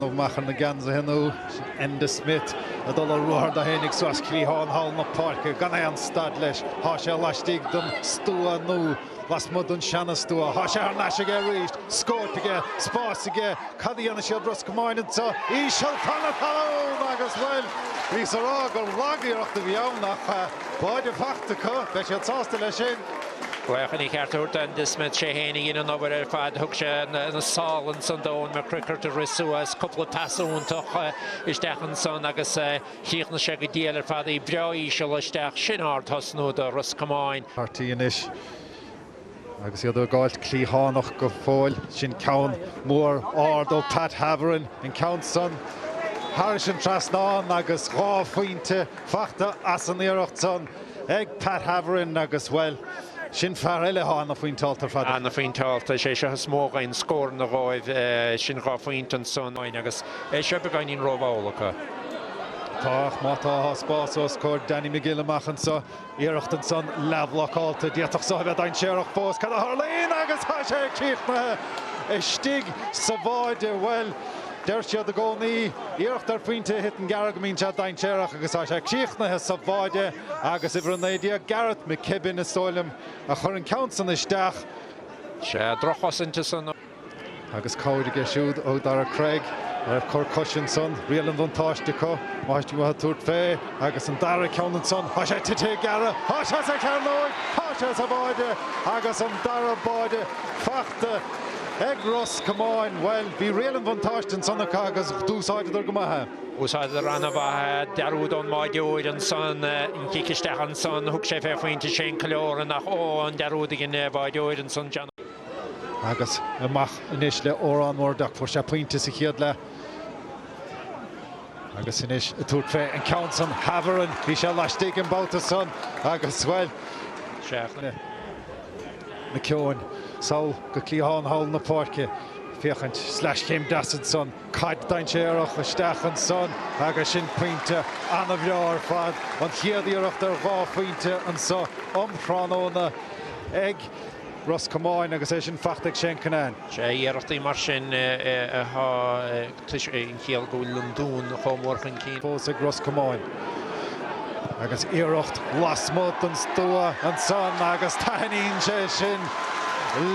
Naomh Mac ar na geansaithe nua, Enda Smith ag dul ar ruathar dó fhéinig suas cliathán thall na páirce gan aon stad leis, tá sé laistigh den stua nó lasmuigh den seanastua, tá sé thar n-ais aige arís, scóip aige, spás aige, cad a dhéanfaidh siad, Ros Comáin anseo, íseal, fann atá ann agus, bhuel, bhíos a rá gur lag-iarracht a bhí ann ach tá báide faighte acu, beidh siad sásta leis sin. Ach chun a cheart a thabhairt d'Enda Smith, sé fhéin a dhein an obair ar fad, thug sé na sála ansan do Eoin McCrickard a rith suas cúpla pas iontach isteach ansan agus chríochnaigh sé go diail ar fad, í breá íseal isteach, sin ardthosnú do Ros Comáin. Harty anois agus iad ag gabháilt cliathánach go fóill, sin ceann mór ard ó Pat Havern, an ceann san thairis an trasnán agus dhá phointe faighte as an iarracht san. ag Pat Havern agus, bhuel, sin fear eile atá ana-phointeálta ar fad. Ana-phointeálta, is é seo is mó againn, scór nó dhó, sin dhá phointe ansan uainn agus é seo beagáinín rómhall acu. Tá, ach má tá spás os comhair Danny Magill amach anso, iarracht ansan, leathbhlocálta, d'fhéadfadh so a bheith dainséarach fós, cad a tharlaíonn agus tá sé críochnaithe istigh sa bháide, bhuel, Deir siad i gcónaí, iarracht ar phointe a thiteann gearr go mbíonn sé dainséarach agus tá sé críochnaithe sa bháide agus uimhir a naoi déag Gareth McKibben is dóigh liom a chuir an ceann san isteach. Sea, drochchosaint is ea an. Agus cabhair aige siúd ó Darragh Cregg a raibh cor coise ansan, riail an bhuntáiste acu, má thuit amuigh tabhairt fé agus an dara ceann ansan, thá sé tite gearr, thá sé sa chearnóig, thá sé sa bháide agus an dara báide faighte. T, Ag Ros Comáin, bhuel, bhí riail an bhuntáiste ansan acu agus d'úsáideadar go maith é. Úsáideadar ana-mhaith é, dearúd ón mbáideoir ansan, an cic isteach ansan, thug sé fé phointe sé an clár i n-ach ó, an dearúd a dhein an báideoir ansan, John. Agus amach anois le Odhran Murdock, fuair sé pointe sa chéad leath agus anois ag tabhairt fé an ceann san, Havern, bhí sé laistigh an babhta san agus, bhuel, 7 na. McKeon, sall go cliathán thall na páirce féachaint sleaschéim deas ansan, caid dainséarach isteach ansan agus sin pointe ana-bhreá ar fad, an chéad iarracht ar dhá phointe anso um thráthnóna ag Ros Comáin agus é sin fachta ag Shane Cunnane. Sea, iarrachtaí mar sin atá Is é an chiall go bhfuil an Dún chomh mór chun cinn fós ag Ros Comáin. Agus iarracht lasmuigh den stua ansan agus taithníonn sé sin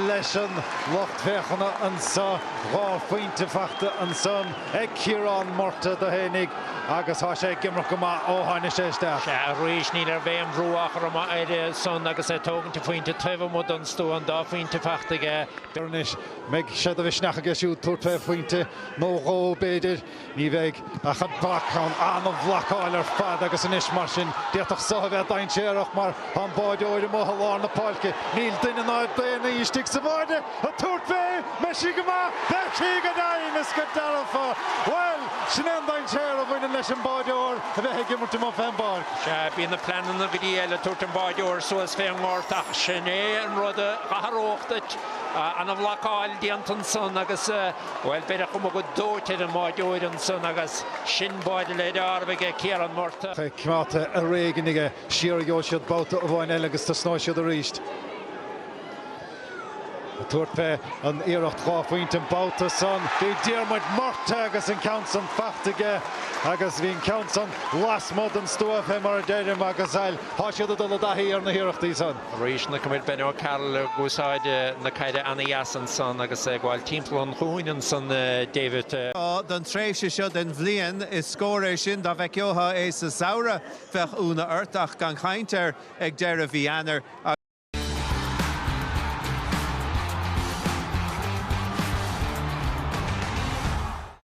leis an lucht féachana anso. Dhá phointe faighte ansan ag Ciarán Murtagh dó fhéinig agus thá sé ag imirt go maith ó tháini' sé isteach. Sea, arís ní raibh aon bhrú á chur amuigh air ansan agus é ag tógaint a phointe taobh amuigh den stua, an dá phointe faighte aige. Dar ndóigh, mbeidh sé de mhisneach aige siúd tabhairt fé phointe nó dhó, b'fhéidir. Ní bheidh, ach an bac, an ana-bhlocáil ar fad agus anois, mar sin, d'fhéadfadh so a bheith dainséarach mar tá an báideoir amuigh i lár na páirce, níl duine ná daonnaí istigh sa bháide ag tabhairt fé, mbeidh sí go maith, beidh sí go deimhin is go dearfa. Bhuel, sin é an dainséar a bhaineann leis an mbáideoir a bheith ag imirt amuigh fén bpáirc. Sea, bíonn na pleananna go dtí eile, tabhairt an báideoir suas fén ngort, ach sin é an rud a tharlódh duit. Ana-bhlocáil déanta ansan agus, bhuel, b'fhéidir chomh go dóite ar an mbáideoir ansan agus sin báide le deáramh aige, Ciarán Murtagh. Beidh cneáta ar éigin aige. Siar a gheobhaidh siad babhta amháin eile agus tosnóidh siad aríst. Ag tabhairt fé an iarracht dhá phointe an babhta san, bhí Diarmuid Murtagh agus an ceann san fachta aige agus bhí an ceann san lasmuigh den stua fé mar a deirim agus, bhuel, tá siad ag dul i dtaithí ar na hiarrachtaí san. Arís, ní cuimhin Ben O'Carroll ag úsáid na caide ana-dheas ansan agus é ag gabháil timpeall an chuain ansan, David. Don tréimhse seo den bhliain, is scór é sin, dá bhfeiceothá é sa samhradh bheadh iúnadh ort, ach gan chaint air ag deireadh mhí Eanáir.